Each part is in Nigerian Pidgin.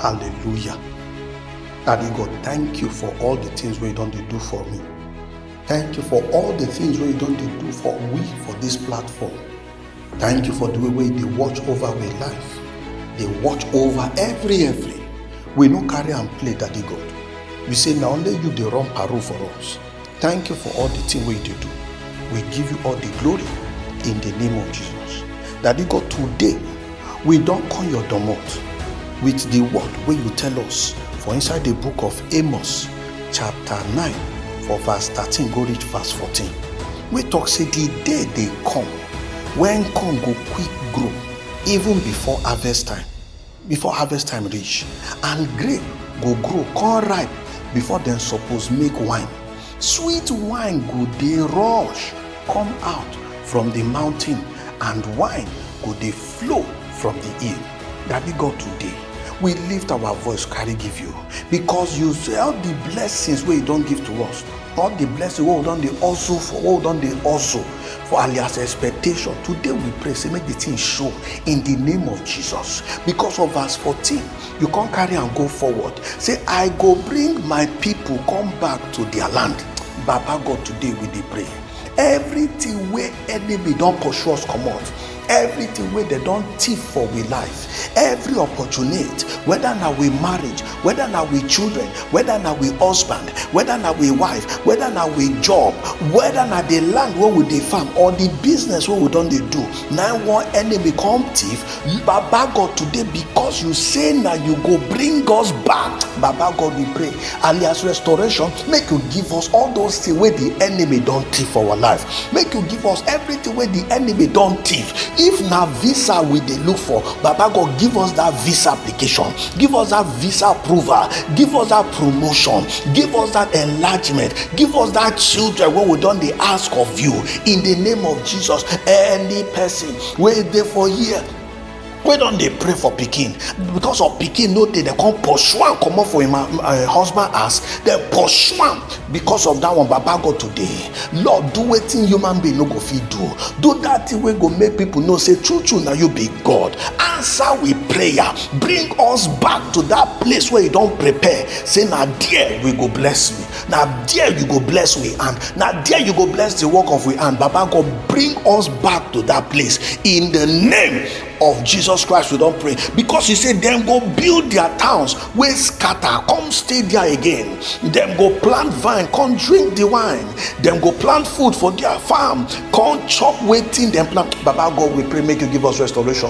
hallelujah daddy god thank you for all the things wey you don dey do for me thank you for all the things wey you don dey do for we for this platform thank you for the way wey you dey watch over our life dey watch over every every we no carry am play daddy god we say na only you dey run parole for us Thank you for all the thing wey you dey do. We give you all the glory in the name of Jesus. Daddy God, today we don come your domot with the word wey you tell us for inside the book of Amos chapter 9 for verse 13 go reach verse 14 wey talk say the day dey come when corn go quick grow even before harvest time. before harvest time reach and grape go grow come ripe before dem suppose make wine sweet wine go dey rush come out from the mountain and wine go dey flow from the hill daddy god today we lift our voice carry give you because you sell the blessings wey you don give to us all the blessing wey we don dey hustle for wey we don dey hustle for alias expectation today we pray say make the thing show in the name of jesus because of verse 14 you come carry am go forward say i go bring my people come back to their land baba god today we dey pray everything wey enemy don pursue us comot everything wey dem don thief for we life every opportunity whether na we marriage whether na we children whether na we husband whether na we wife whether na we job whether na the land wey we dey farm or the business wey we don dey do na one enemy come thief baba god today because you say na you go bring us back baba god we pray alias restoration make you give us all those things wey the enemy don thief for our life make you give us everything wey the enemy don thief if na visa we dey look for baba god give us that visa application give us that visa approval give us that promotion give us that enlargement give us that children wey we don dey ask of you in the name of jesus any person wey dey for here wey don dey pray for pikin because of pikin no dey dem come pursue am comot for im uh, uh, husband house dem pursue am because of that one baba go today lord do wetin human being no go fit do do that thing wey go make people know say true true na you be god answer we prayer bring us back to that place wey you don prepare say na there we go bless you na there you go bless we hand na there you go bless the work of we hand baba god bring us back to that place in the name of jesus christ we don pray because he say dem go build their towns wey scatter come stay there again dem go plant vine come drink the wine dem go plant food for their farm come chop wetin dem plant baba god we pray make you give us restoration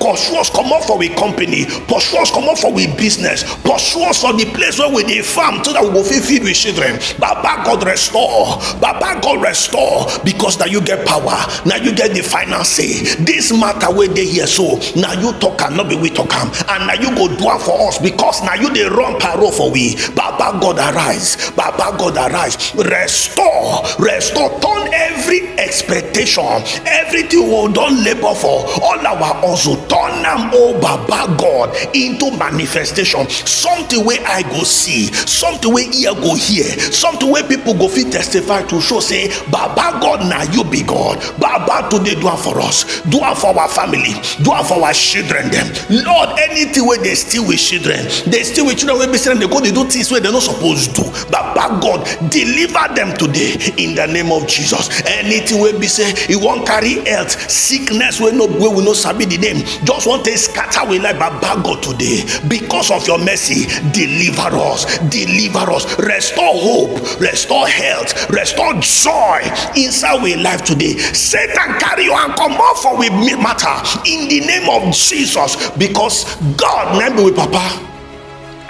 pursue us comot for we company pursue us comot for we business pursue us for the place where we dey farm so that we go fit feed we children baba god restore baba god restore because na you get power na you get the final say this matter wey dey here so na you talk am no be we talk am and na you go do am for us because na you dey run parole for we baba god arise baba god arise restore restore turn every every expectation everything we don labour for all our hustle turn am o oh baba god into manifestation something wey eye go see something wey ear go hear something wey people go fit testify to show say baba god na you be god baba today do am for us do am for our family do am for our children dem lord anything wey dey steal with children dey steal with children wey be say dem dey go dey do things wey dem no suppose do baba god deliver them today in the name of jesus anything wey be say e wan carry health sickness wey no wey we no sabi the name just wan take scatter we like baba god today because of your mercy deliver us deliver us restore hope restore health restore joy inside we life today satan carry you and comot for we matter in the name of jesus because god na be we papa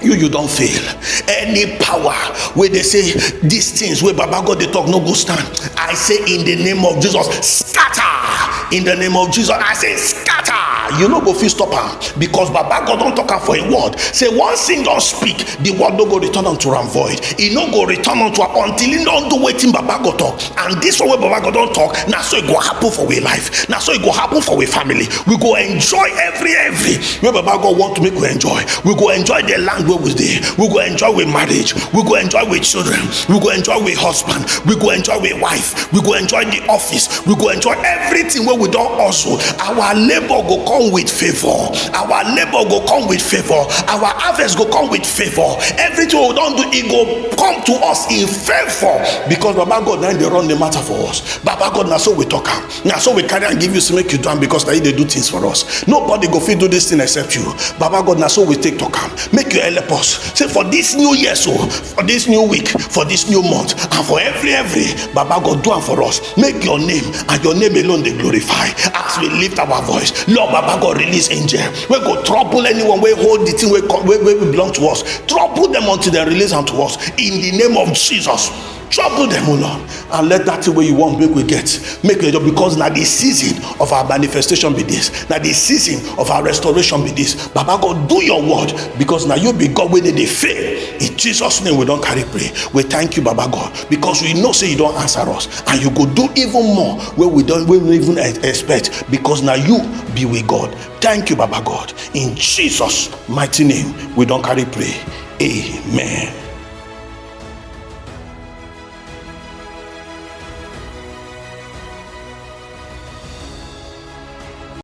you you don fail any power wey dey say these things wey baba god dey talk no go stand i say in the name of jesus scatter in the name of jesus i say scatter you no go fit stop am because baba god don talk am for im word say once im don speak the word no go return unto am void e no go return unto am until im don do wetin baba god talk and this one wey baba god don talk na so e go happen for we life na so e go happen for we family we go enjoy every every wey baba god want to make we enjoy we go enjoy the land wey we dey we go enjoy we marriage we go enjoy we children we go enjoy we husband we go enjoy we wife we go enjoy the office we go enjoy everything wey we don hustle our labour go come with favour our labour go come with favour our harvest go come with favor everything we don do e go come to us in favor because baba god na dey run the matter for us baba god na so we talk am na so we carry am give you say make you do am because na you dey do things for us nobody go fit do this thing except you baba god na so we take talk am make you help us say for this new year so for this new week for this new month and for every every baba god do am for us make your name and your name alone dey glorify as we lift our voice lord baba god release angel wey go trouble anyone wey hold the thing wey come wey wey belong to us trouble them until they release am to us in the name of jesus trouble them o lord and let that thing wey you want make we get make we just because na the season of our manifestation be this na the season of our restoration be this baba god do your word because na you be god wey dey dey fail in jesus name we don carry pray we thank you baba god because we know say you don answer us and you go do even more wey we don wey we no even e- expect because na you be we god thank you baba god in jesus mighty name we don carry pray amen.